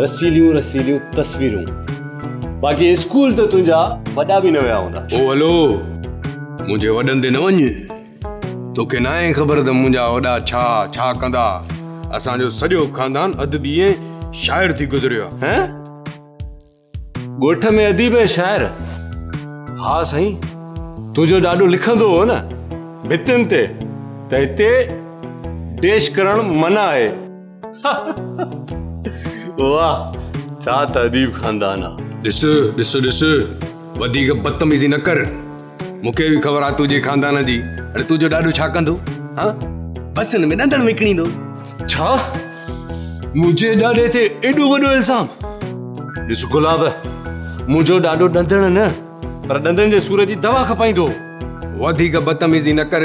رسيليون رسيليون تصويرون. باقي اسڪول ته تنهنجا وڏا به نه ويا هوندا. او هلو! منهنجي وڏن تي نه وڃ. توکي ناهي خبر ته منهنجا وڏا ڇا ڇا ڪندا. اسان جو سڄو خاندان ادبي ۽ شاعر ٿي گذريو آهي. هه! ڳوٺ ۾ اديب ۽ شاعر ها سائين تنهنجو ڏاڏو لکندو هو نه ڀتين تي ته هتي ڊيش ڪرڻ منع آهي واهه ڇا ته اديب خاندان آ. ڏس ڏس ڏس وڌيڪ بدتميزي نه ڪر مون کي به خبر آ تنهنجي خاندان جي اڙي تنهنجو ڏاڏو ڇا ڪندو ها بس هن ۾ ڏندڻ وڪڻيندو. ڇا؟ منهنجي ڏاڏي تي ايڏو وڏو الزام ڏس گلاب منهنجو ڏاڏو ڏندڻ نه پر ڏندن جي سور جي دوا کپائيندو وڌيڪ بدتميزي نه ڪر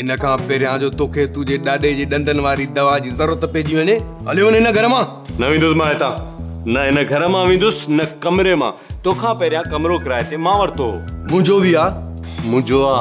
ان کان پهريان جو توکي تنهنجي ڏاڏي جي ڏندن واري دوا جي ضرورت پئجي وڃي هليو وڃ هن گهر مان نه ويندس مان هتان نه هن گهر مان ويندس نه ڪمري مان توکان پهريان ڪمرو ڪرائي تي مان ورتو منهنجو به آ منهنجو آ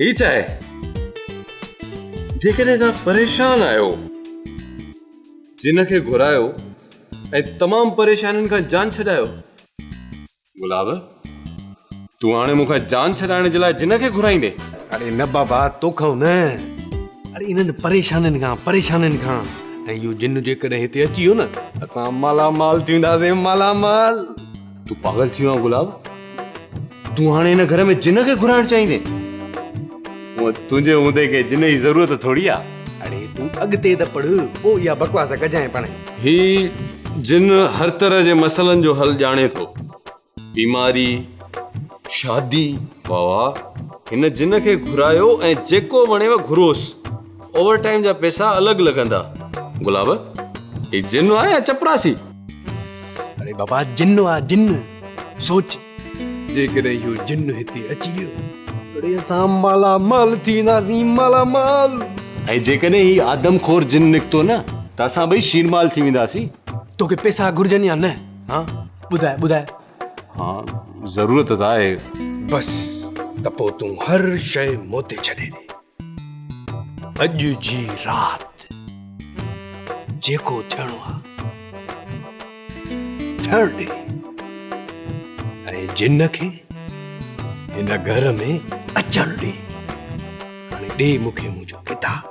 هي ڇا آهي جيڪڏهن توهان پريشان آهيو جن کي گهرايو ۽ تمام پريشانين کان جان ڇڏايو گلاب تون هاڻي مون کان جان ڇڏائڻ جي لاء جن کي گهرائيندي اڙي نه بابا توکان نه اڙي انهن پريشانين کان پريشانين کان ۽ اهو جن جيڪڏهن هتي اچي ويو نه اسان مالا مال ٿينداسين مالا مال تون پاگل ٿي ويو آهين گلاب تون هاڻي هن گهر ۾ جن کي گهرائڻ چاهيندين تنهنجي هوندي کي جن جي ضرورت ٿوري آهي اڙي تون اڳتي ته پڙهه پوء اها بڪواس ڪجانء پاڻ هي جن هر طرح جي مسئلن جو حل ڄاڻي ٿو بيماري شادي واهه واهه هن جن کي گهرايو ۽ جيڪو وڻيو گهروس اوور ٽائيم جا پيسا الڳ لڳندا. گلاب، هي جن آ يا چپراسي؟ اڙي بابا جن آ جن. سوچ جيڪڏهن اهو جن هتي اچي ويو اڙي اسان مالا مال ٿينداسين مالا مال. ۽ جيڪڏهن هي آدم خور جن نڪتو نه ته اسان ٻئي شير مال ٿي وينداسين. توکي پيسا گهرجن يا نه ها ٻڌاء ٻڌاء. ها ضرورت ته آهي. بس ته پوء تون هر شيء مون تي ڇڏي ڏي. اڄ جي رات جيڪو ٿيڻو آ ٿيڻ ڏي ۽ جن کي هن گهر ۾ اچڻ ڏي هاڻي ڏي مون کي منهنجو ڪتاب.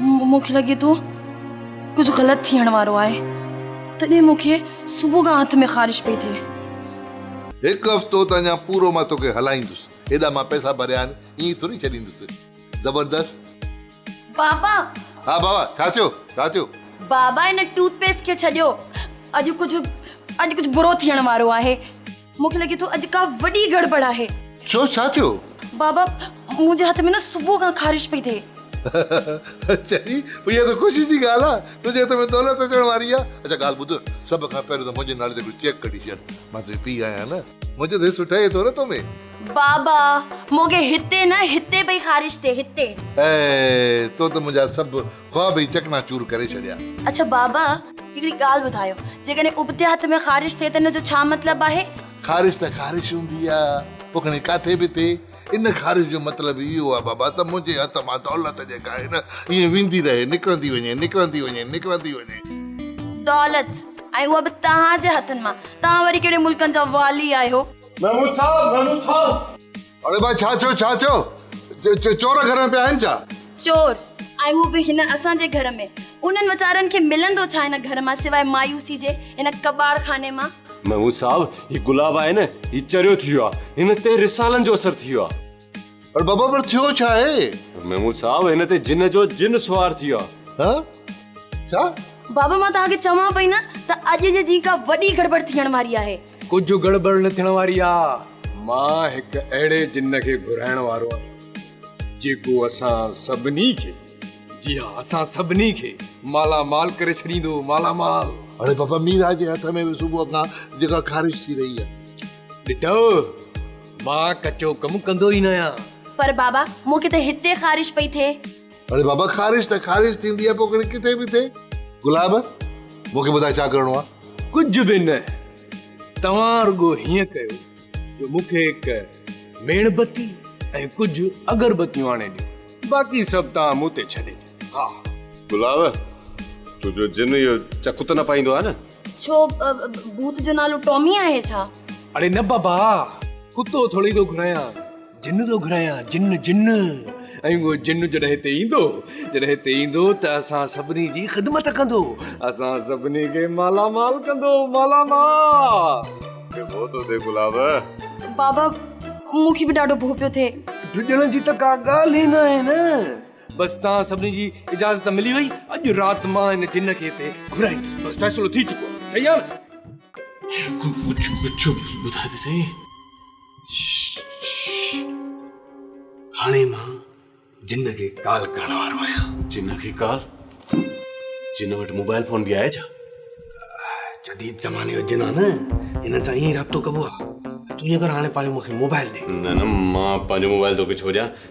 مون کي لڳي ٿو ڪجهه غلط ٿيڻ وارو آهي تڏهن مون کي صبح کان هٿ ۾ خارش پئي ٿئي. هڪ هفتو ته اڃا پورو مان توکي هلائيندس هيڏا مان پئسا ڀريا آهن ائين ٿوري ڇڏيندس زبردست. بابا! ها بابا ڇا ٿيو ڇا ٿيو؟ بابا ان ٽوٿ پيسٽ کي ڇڏيو اڄ ڪجهه اڄ ڪجهه برو ٿيڻ وارو آهي. مون کي لڳي ٿو اڄ ڪا وڏي گڙٻڙ آهي. ڇو ڇا ٿيو؟ بابا منهنجي هٿ ۾ نه صبح کان خارش پئي ٿئي. اچا ڙي اها ته خوشي جي ڳالهه آهي تنهنجي هٿ ۾ دولت اچڻ واري آهي. اچا ڳالهه ٻڌ سڀ کان پهريون ته منهنجي نالي تي هڪڙو چيڪ ڪڍي ڇڏ مان تنهنجو پيء آهيان نه منهنجو ته هي سٺ اهي ٿو نه تو ۾. بابا مون کي هتي نه هتي پئي خارش ٿئي هتي. اي تو ته منهنجا سڀ. خواب ئي چڪنا چور ڪري ڇڏيا. اڇا بابا هڪڙي ڳالهه ٻڌايو جيڪڏهن ابتي هٿ ۾ خارش ٿئي ته ان جو ڇا مطلب آهي؟ خارش ته خارش هوندي آ پوء کڻي ڪاٿي به ٿئي ان خارش جو مطلب اهو آ بابا ته منهنجي هٿ مان دولت جيڪا آهي نه ائين ويندي رهي نڪرندي وڃي نڪرندي وڃي نڪرندي وڃي. دولت ۽ اها به توهان جي هٿن مان توهان وري ڪهڙي ملڪن جا والي آهيو. نمو صاحب نمو صاحب. اڙي ڀاء ڇا ٿيو ڇا ٿيو چور گهر ۾ پيا آهن ڇا؟ چور ۽ هو به هن اسان جي گهر ۾ انهن ويچارن کي ملندو ڇا هن گهر مان سواء مايوسي جي هن ڪٻاڙ خاني مان. محمود صاحب هي گلاب آهي نه هي چريو ٿي ويو آهي هن تي رسالن جو اثر ٿي ويو آهي. اڙي بابا پر ٿيو ڇا آهي؟ محمود صاحب هن تي جن جو جن سوار ٿي ويو آهي. ها ڇا؟ بابا مان توهان کي چوان پئي نه ته اڄ جي جيڪا وڏي گڙٻڙ ٿيڻ واري آهي. ڪجهه گڙٻڙ نه ٿيڻ واري آهي. مان هڪ اهڙي جن کي گهرائڻ وارو آهيان جيڪو اسان سڀني کي جي ها اسان سڀني کي مالا مال ڪري ڇڏيندو مالا مال. اڙي بابا ميرا جي هٿ ۾ به صبح کان جيڪا خارش ٿي رهي آهي. ڏٺو مان ڪچو ڪم ڪندو ئي نه آهيان. پر بابا مون کي ته هتي خارش پئي ٿئي. اڙي بابا خارش ته خارش ٿيندي آهي پوکڙي ڪٿي به ٿئي گلاب مون کي ٻڌاء ڇا ڪرڻو آهي. ڪجهه به نه توهان رڳو هيئن ڪيو جو مون کي هڪ ميڻ بتي ۽ ڪجهه اگر بتيون آڻي ڏيو باقي سڀ توهان مون تي ڇڏي ڏيو ها. گلاب تنهنجو جن اهو چڪ ته نه پائيندو آهي نه. ڇو ڀوت جو نالو ٽامي آهي ڇا. اڙي نه بابا ڪتو ٿورڙي ٿو گهرايان. جن ٿو گهرايان جن جن ۽ اهو جن جڏهن هتي ايندو جڏهن هتي ايندو ته اسان سڀني جي خدمت ڪندو اسان سڀني کي مالا مال ڪندو مالا مال ڏبو تو ڏي گلاب بابا مون کي به ڏاڍو ڀو پيو ٿئي ڊڄڻ جي ته ڪا ڳالهه ئي نه آهي نه بس تان سڀني جي اجازت ملي وئي اڄ رات مان ان جن کي هتي گهرائيندس بس فيصلو ٿي چڪو صحيح آهي نه ڪجهه ڪجهه ٻڌاء ته سهي هاڻي مان جن کي ڪال ڪرڻ وارو آهيان جن کي ڪال جن وٽ موبائل فون به آهي ڇا جديد زماني جو جن آهي نه هن سان ائين رابطو ڪبو آهي تون ائين ڪر هاڻي پنهنجو مونکي موبائل ڏي نه نه مان پنهنجو موبائل توکي ڇو ڏيان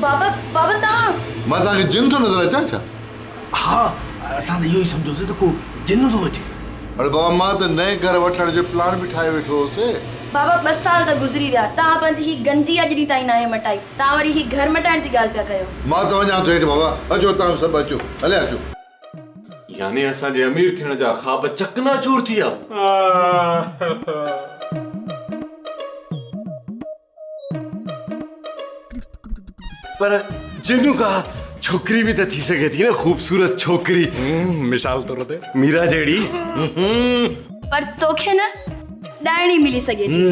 بابا، بابا توهان! مان توهان کي جن ٿو نظر اچان ڇا؟ ها، اسان ته اهو ئي سمجهيوسين ته ڪو جن ٿو اچي. اڙي بابا مان ته نئين گهر وٺڻ جو پلان به ٺاهي ويٺو هوس. بابا ٻه سال ته گذري ويا، توهان پنهنجي هي گنجي اڄ ڏينهن تائين ناهي مٽائي، توهان وري هي گهر مٽائڻ جي ڳالهه پيا ڪيو. مان ته وڃان ٿو هيٺ بابا، اچو توهان به سڀ اچو، هليا اچو. يعني اسان جي امير ٿيڻ جا خواب چڪنا چور ٿي ويا. ڇوڪري به ته ٿي سگهي ٿي نه خوبصورت ڇوڪري مثال طور تي ميرا جهڙي پر توکي نه ڏائڻي ملي سگهي ٿي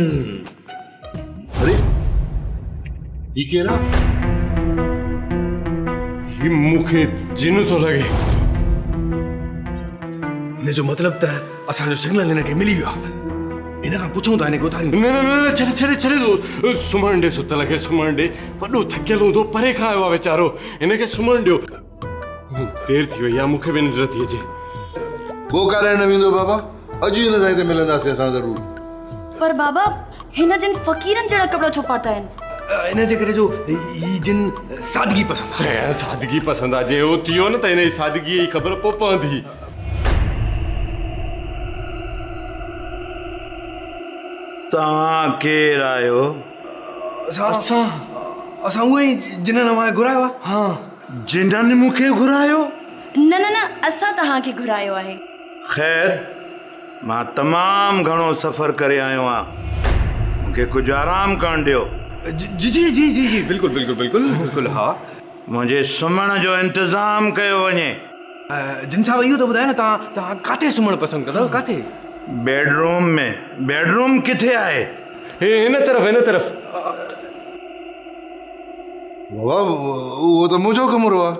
اري هي ڪير آ هي مونکي جن ٿو لڳي ان جو مطلب ته اسان جو سگنل هن کي ملي ويو آهي ان کان پڇون ٿا هن کي اتاريون نه نه نه ڇڏ ڇڏ ڇڏ سمهڻ ڏي ست لڳي سمهڻ ڏي وڏو ٿڪيل هوندو پري کان آيو آهي ويچارو هن کي سمهڻ ڏيو دير ٿي وئي آ مون کي به ننڊ نٿي اچي گو ڪارائڻ نه ويندو بابا اڄ ئي هن سان هتي ملنداسين اسان ضرور پر بابا هن جن فقيرن جهڙا ڪپڙا ڇو پاتا آهن ان جي ڪري جو هي جن سادگي پسند آهي ها سادگي پسند آهي جي هو ٿيو نه ته هن جي سادگي جي خبر پوء پوندي توهان ڪير آهيو اسان اسان اسان اهي جنن اوهان کي گهرايو آهي ها جنھن مون کي گھرايو؟ نه نه نه اسان توهان کي گھرايو آهي. خير مان تمام گھڻو سفر ڪري آيو آهيان مون کي ڪجھ آرام ڪرڻ ڏيو. جي جي جي جي جي بلڪل بلڪل بلڪل بلڪل ها. منھنجي سمھڻ جو انتظام ڪيو وڃي. جن صاحب اهو ته ٻڌايو نه توهان توهان ڪاٿي سمھڻ پسند ڪندؤ ڪاٿي؟ Bedroom ۾. بيڊ روم ڪٿي آهي؟ هي هن طرف هن طرف. بابا اهو ته منهنجو ڪمرو آهي.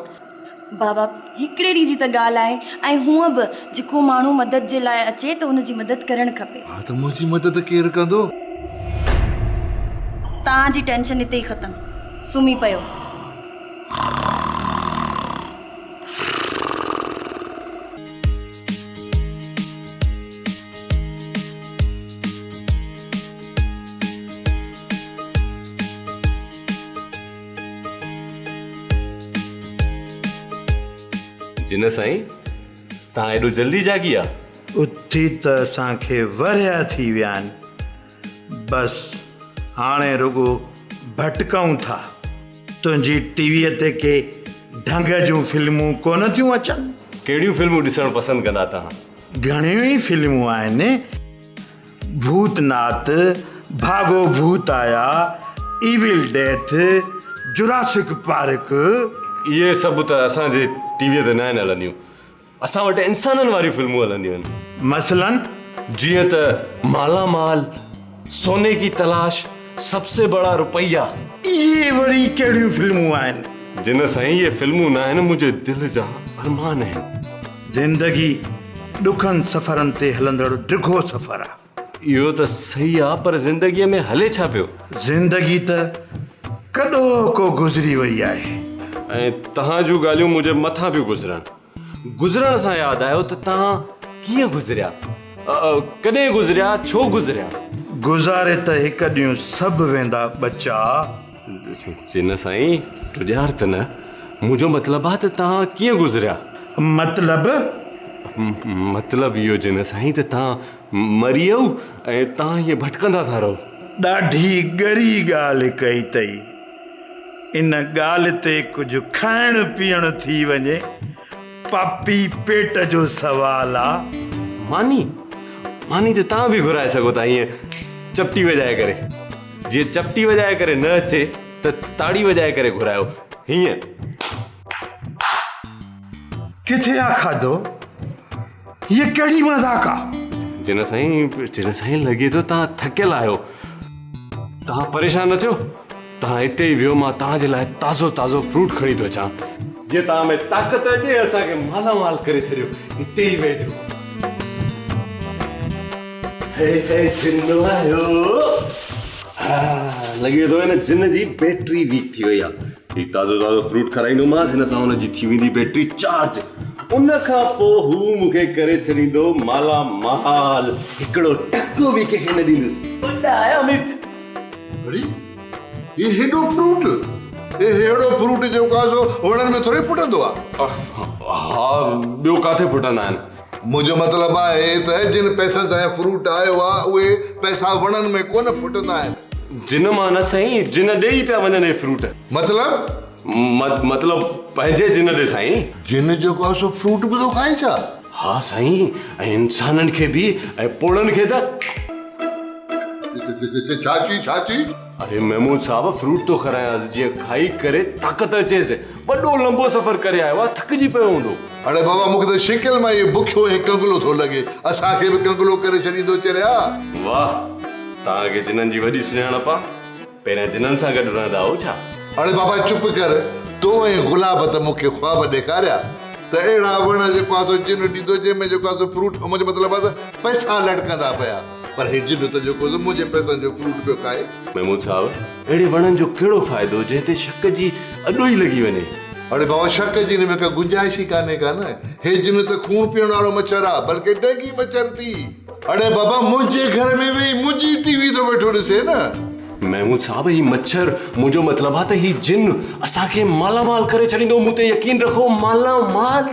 بابا هڪڙي ڏينهن جي ته ڳالهه آهي ۽ هونء به جيڪو ماڻهو مدد جي لاء اچي ته ان جي مدد ڪرڻ کپي. ها ته منهنجي مدد ڪير ڪندو؟ توهان جي ٽينشن هتي ئي ختم. سمهي پيو. جنھن سائين تان ايڏو جلدي جاڳي آ. اٿي ته اسان کي ورهيا ٿي ويا آهن بس هاڻي رڳو ڀٽڪئون ٿا. تنهنجي ٽي ويء تي ڪي ڍنگ جون فلمون ڪونه ٿيون اچن. ڪهڙيون فلمون ڏسڻ پسند ڪندا تهان؟ گهڻيون ئي فلمون آهن، ڀوت نات، ڀاڳو ڀوت آيا، ايول ڊيٿ، جراسڪ پارڪ. اهي سڀ ته اسان جي ٽي ويء تي ناهن هلنديون، اسان وٽ انسانن واريون فلمون هلنديون آهن. مثلاً؟ جيئن ته مالا مال. سوني ڪي تلاش، سب سي بڙا روپيا. اهي وري ڪهڙيون فلمون آهن؟ جنه سائين اهي فلمون ناهن منهنجي دل جا ارمان آهن. زندگي ڏکن سفرن تي هلندڙ ڊگهو سفر آ. اهو ته صحيح آ پر زندگي ۾ هلي ڇا پيو؟ زندگي ته ڪڏهوڪو گذري وئي آهي. ۽ تهان جون ڳالهيون منهنجي مٿان پيون گذرن. گذرڻ سان ياد آيو ته توهان ڪيئن گذريا؟ ڪڏهن گذريا؟ ڇو گذريا؟ گذاري ته هڪ ڏينهن سڀ ويندا ٻچا. سچ نه سائين، ٽڄار ته نه. منهنجو مطلب آ ته توهان ڪيئن گذريا؟ مطلب؟ مطلب اهو جنه سائين ته توهان مري ويئو ۽ توهان هيئن ڀٽڪندا ٿا رهو. ڏاڍي ڳري ڳالهه ڪئي اٿئي. ان ڳالهه تي ڪجهه کائڻ پيئڻ ٿي وڃي، پاپي پيٽ جو سوال آ. ماني، ماني ته توهان به گهرائي سگهو ٿا ائين چپٽي وڄائي ڪري. جي چپٽي وڄائي ڪري نه اچي ته تاڙي وڄائي ڪري گهرايو ائين. ڪٿي آ کاڌو هي ڪهڙي مذاق آ. جنرل سائين جنرل سائين لڳي ٿو تان ٿڪيل آهيو تان پريشان نه ٿيو تان هتي ئي ويو مان تان جي لاء تازو تازو فروٽ کڻي ٿو اچان جي تان ۾ طاقت اچي اسان کي مالا مال ڪري ڇڏيو هتي ئي ويهجو هي هي جن آهيو لڳي ٿو هن جن جي بيٽري ويڪ ٿي وئي آ هي تازو تازو فروٽ کارائيندومانس هن سان هن جي ٿي ويندي بيٽري چارج ان کان پوء هو مون کي ڪري ڇڏيندو مالا مال هڪڙو ٽڪو به ڪنهن کي نه ڏيندس وڏا آيا مرچ اري هي هيڏو فروٽ هي هيڙو فروٽ جو ڪازو وڻن ۾ ٿوري ڦٽندو آهي ها ٻيو ڪاٿي ڦٽندا آهن منهنجو مطلب آهي ته جن پئسن سان هي فروٽ آيو آهي اهي پئسا وڻن ۾ ڪونه ڦٽندا آهن. جن مان نه سائين، جن ڏي ئي پيا وڃن هي فروٽ. مطلب؟ مت مطلب پنهنجي جن ڏي سائين. جن جيڪو آهي سو فروٽ به ٿو کائي ڇا؟ ها سائين، ۽ انسانن کي به ۽ پوڙهن کي ته. ڇا چئي ڇا چئي؟ اري محمود صاحب فروٽ ٿو کارايانس جيئن کائي ڪري طاقت اچيس وڏو لمبو سفر ڪري آيو آهي ٿڪجي پيو هوندو. اڙي بابا مون کي ته شڪل مان ئي بکيو ۽ ڪنگلو ٿو لڳي اسان کي به ڪنگلو ڪري ڇڏيندو چريا. واهه توهان کي جنن جي وڏي سڃاڻپ آهي پهريان جنن سان گڏ رهندا هئو ڇا؟ اڙي بابا چپ ڪر تو ۽ گلاب ته مون کي خواب ڏيکاريا ته اهڙا وڻ جيڪو آسو جنھن ڏيندو جنھن ۾ جيڪو آسو فروٽ منھنجو مطلب آهي ته پئسا لڙڪندا پيا. پر هي جن ته جيڪو زه منهنجي پئسن جو فروٽ پيو کائي. محمود صاحب اهڙي وڻن جو ڪهڙو فائدو جنهن تي شڪ جي اڏو ئي لڳي وڃي. اڙي بابا شڪ جي هن ۾ ڪا گنجائش ئي ڪانهي ڪا نه. هي جن ته خون پيئڻ وارو مڇر آ بلڪه ڊينگي مڇر ٿي. اڙي بابا منهنجي گهر ۾ ويهي منهنجي ٽي وي ٿو ويٺو ڏسي نه. محمود صاحب هي مڇر منهنجو مطلب آ ته هي جن اسان کي مالا مال ڪري ڇڏيندو مون تي يقين رکو مالا مال.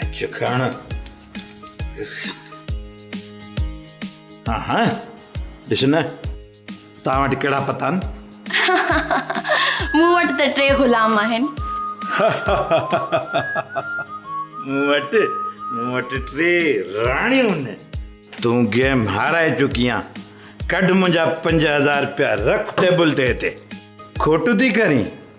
اچ کڻ ڏس ها ها ڏس نه تان وٽ ڪهڙا پتا آهن مون وٽ ته ٽي غلام آهن مون وٽ مون وٽ ٽي راڻيون آهن تون گيم هارائي چڪي آهين ڪڍ منهنجا پنج هزار رپيا رک ٽيبل تي هتي کوٽ ٿي ڪرين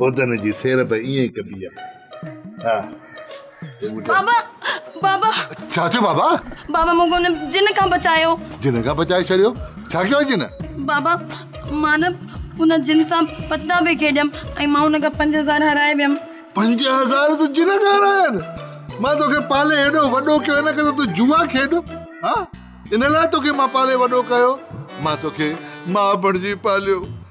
بودن جي سير به ائين ئي ڪبي آهي ها بابا بابا ڇا ٿيو بابا بابا مون کي ان جن کان بچايو جن کان بچائي ڇڏيو ڇا ڪيو جن بابا مان نه ان جن سان پتا به کيڏيم ۽ مان ان کان پنج هزار هارائي ويم پنج هزار تو جن کان هارايا آهن مان توکي پالي هيڏو وڏو ڪيو ان ڪري تو جوا کيڏ ها ان لاء توکي مان پالي وڏو ڪيو مان توکي ماء بڻجي پاليو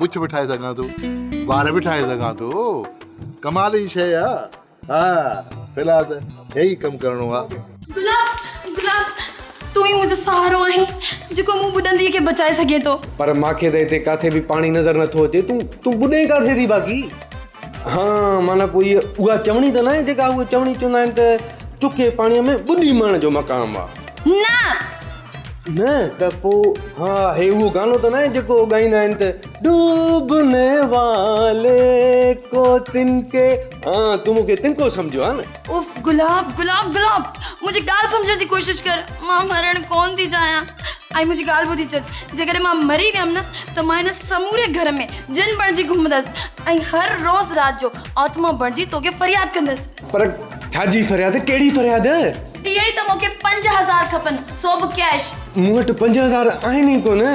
مچ به ٺاهي سگهان ٿو وار به ٺاهي سگهان ٿو ڪمال جي شيء آ ها في الحال ته هي ئي ڪم ڪرڻو آ گلاب گلاب تون ئي منهنجو سهارو آهين جيڪو مون ٻڏندي کي بچائي سگهي ٿو پر مان کي ته هتي ڪاٿي به پاڻي نظر نٿو اچي تون تون ٻڏين ڪاٿي ٿي باقي ها معنيٰ پوء هيء اها چوڻي ته ناهي جيڪا هوء چوڻي چوندا آهن ته چکي پاڻيء ۾ ٻڏي مئڻ جو مقام آ نه نه ته پوء ها هي اهو گانو ته ناهي جيڪو هو ڳائيندا آهن ته ڊوبني والي ڪو تن ڪي ها تون مون کي تنڪو سمجهيو ها نه. اف گلاب گلاب گلاب منهنجي ڳالهه سمجهڻ جي ڪوشش ڪر مان مرڻ ڪونه ٿي چاهيان ۽ منهنجي ڳالهه ٻڌي ڇڏ جيڪڏهن مان مري ويم نه ته مان هن سموري گهر ۾ جن بڻجي گهمندس ۽ هر روز رات جو آتما بڻجي توکي فرياد ڪندس. پر ڇا جي فرياد؟ ڪهڙي فرياد؟ اهي ئي ته مون کي پنج هزار کپن، سو به ڪيش. مون وٽ پنج هزار آهن ئي ڪونه.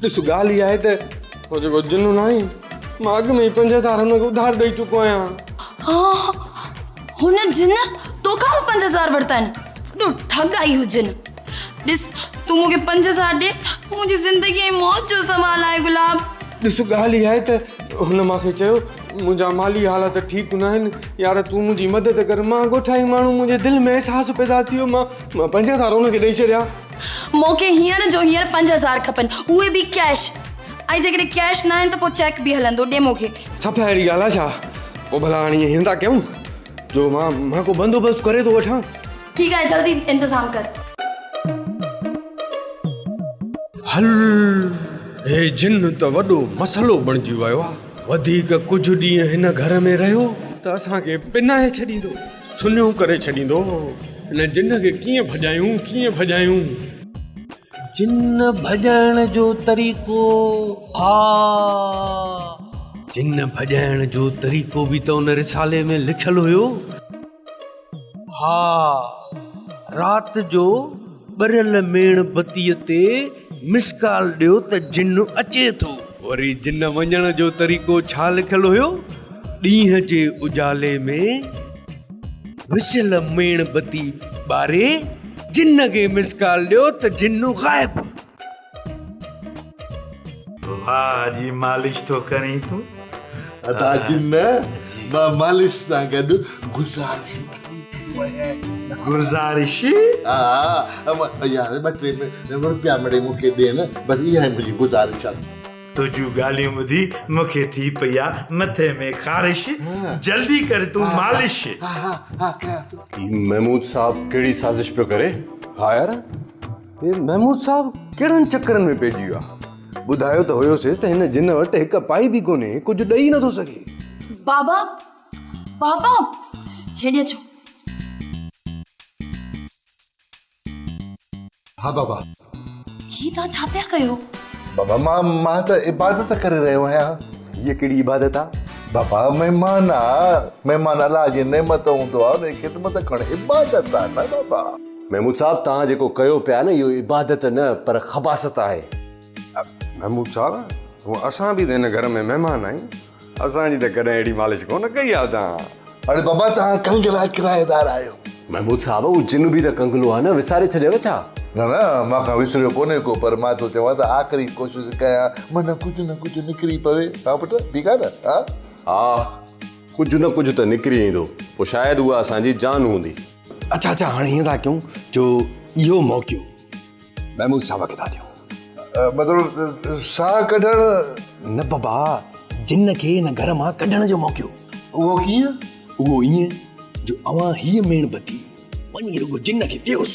ڏس ڳالهه اها آهي ته اهو جيڪو جنون آهي، مان اڳ ۾ ئي پنج هزار هن کي اڌار ڏئي چڪو آهيان. هن جن تو کان به پنج هزار ورتا آهن؟ وڏو ٺڳ آهي اهو جن. ڏس تون مون کي پنج هزار ڏي، منهنجي زندگي ۽ موت جو سوال آهي گلاب. ڏس ڳالهه اها آهي ته هن مون کي چيو. منهنجا مالي حالات ٺيڪ ناهن يار تون منهنجي مدد ڪر مان ڳوٺائي ماڻهو منهنجي دل ۾ احساس پيدا ٿي ويو مان مان پنج هزار ان کي ڏئي ڇڏيا مونکي هينئر جو هينئر پنج هزار کپن اهي به ڪيش ۽ جيڪڏهن ڪيش ناهن ته پوء چيڪ به هلندو ڏي مونکي صفا اهڙي ڳالهه آهي ڇا پوء ڀلا هاڻي ائين ٿا ڪيون جو مان مان ڪو بندوبست ڪري ٿو وٺان ٺيڪ آهي جلدي انتظام ڪر هل هي جن ته وڏو مسئلو بڻجي ويو آهي وڌيڪ ڪجهه ڏينهن هن گهر ۾ رهيو ته اسان کي پنائي ڇڏيندو، سنهيون ڪري ڇڏيندو هو. هن جن کي ڪيئن ڀڄايون، ڪيئن ڀڄايون؟ جن ڀڄائڻ جو طريقو، ها! جن ڀڄائڻ جو طريقو به ته ان رسالي ۾ لکيل هيو. ها، رات جو ٻريل ميڻ بتيء تي مس ڪال ڏيو ته جن اچي ٿو. وري جن وڃڻ جو طريقو ڇا لکيل هيو؟ ڏينهن جي اجالي ۾ وسيل ميڻ بتي ٻاري جن کي مس ڪال ڏيو ته جن غائب. واهه جي مالش ٿو ڪرين تون ادا جي نه مان مالش سان گڏ گزارش گزارش ها يار ٻه ٽي روپيا مڙي مون کي ڏي نه بس اها ئي منهنجي گزارش آهي تنهنجون ڳالهيون ٻڌي مون کي ٿي پئي آهي مٿي ۾ خارش جلدي ڪر تون مالش محمود صاحب ڪهڙي سازش پيو ڪري ها يار محمود صاحب ڪهڙن چڪرن ۾ پئجي ويو آهي ٻڌايو ته هيوسيس ته هن جن وٽ هڪ پائي به ڪونهي ڪجهه ڏئي نٿو سگهي بابا بابا هيڏي اچو ها بابا هي توهان ڇا پيا ڪيو بابا مان مان ته عبادت ڪري رهيو آهيان هيء ڪهڙي عبادت آ بابا مهمان آ مهمان الله جي نعمت هوندو آ ان جي خدمت ڪرڻ عبادت آ نه بابا محمود صاحب توهان جيڪو ڪيو پيا نه اهو عبادت نه پر خباست آهي. محمود صاحب هو اسان به ته هن گهر ۾ مهمان آهيون اسان جي ته ڪڏهن اهڙي مالش ڪونه ڪئي آهي توهان. اڙي بابا توهان ڪنگلا ڪرائيدار آهيو. محمود صاحب هو جن به ته ڪنگلو آهي نه وساري ڇڏيو ڇا. نه نه مان کان وسريو ڪونهي ڪو پر مان ٿو چوان ته آخري ڪوشش ڪيان منهن ڪجهه نه ڪجهه نڪري پوي ها پٽ ٺيڪ آهي نه ها. ها ڪجهه نه ڪجهه ته نڪري ايندو پوء شايد اها اسان جي جان هوندي. اڇا اڇا هاڻي هيئن ٿا ڪيون جو اهو موقعو محمود صاحب کي ٿا ڏيون مطلب ساهه ڪڍڻ نه بابا جن کي هن گهر مان ڪڍڻ جو موقعو اهو ڪيئن اهو ائين جو اوهان هيء ميڻ بتي وڃي رڳو جن کي ڏيوس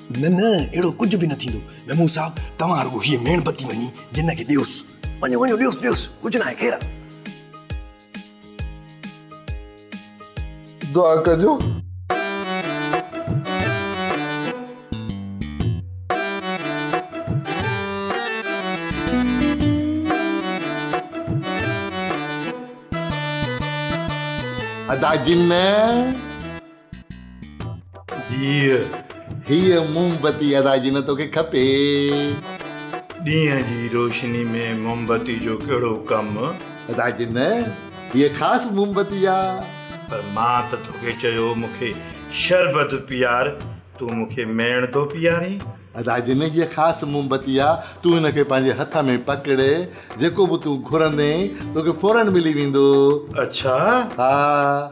نه نه اهڙو ڪجهه به نه ٿيندو ميمون صاحب توهان رڳو هيء ميڻ بتي وڃي جن کي ڏيوس وڃو وڃو ڏيوس ڏيوس ڪجهه ناهي خير آ. دعا ڪجو. ادا جن. ڌيء، هيء موم بتي ادا جي نه توکي کپي. ڏينهن جي روشني ۾ موم بتي جو ڪهڙو ڪم؟ ادا جي نه، هيء خاص موم بتي آ. پر مان ته توکي چيو هو مون کي شربت پيار، تون مون کي ميڻ ٿو پيارين. ادا جي نه، هيء خاص موم بتي آ، تون هن کي پنهنجي هٿ ۾ پڪڙ، جيڪو به تون گهرندين، توکي فوراً ملي ويندو. اڇا؟ ها.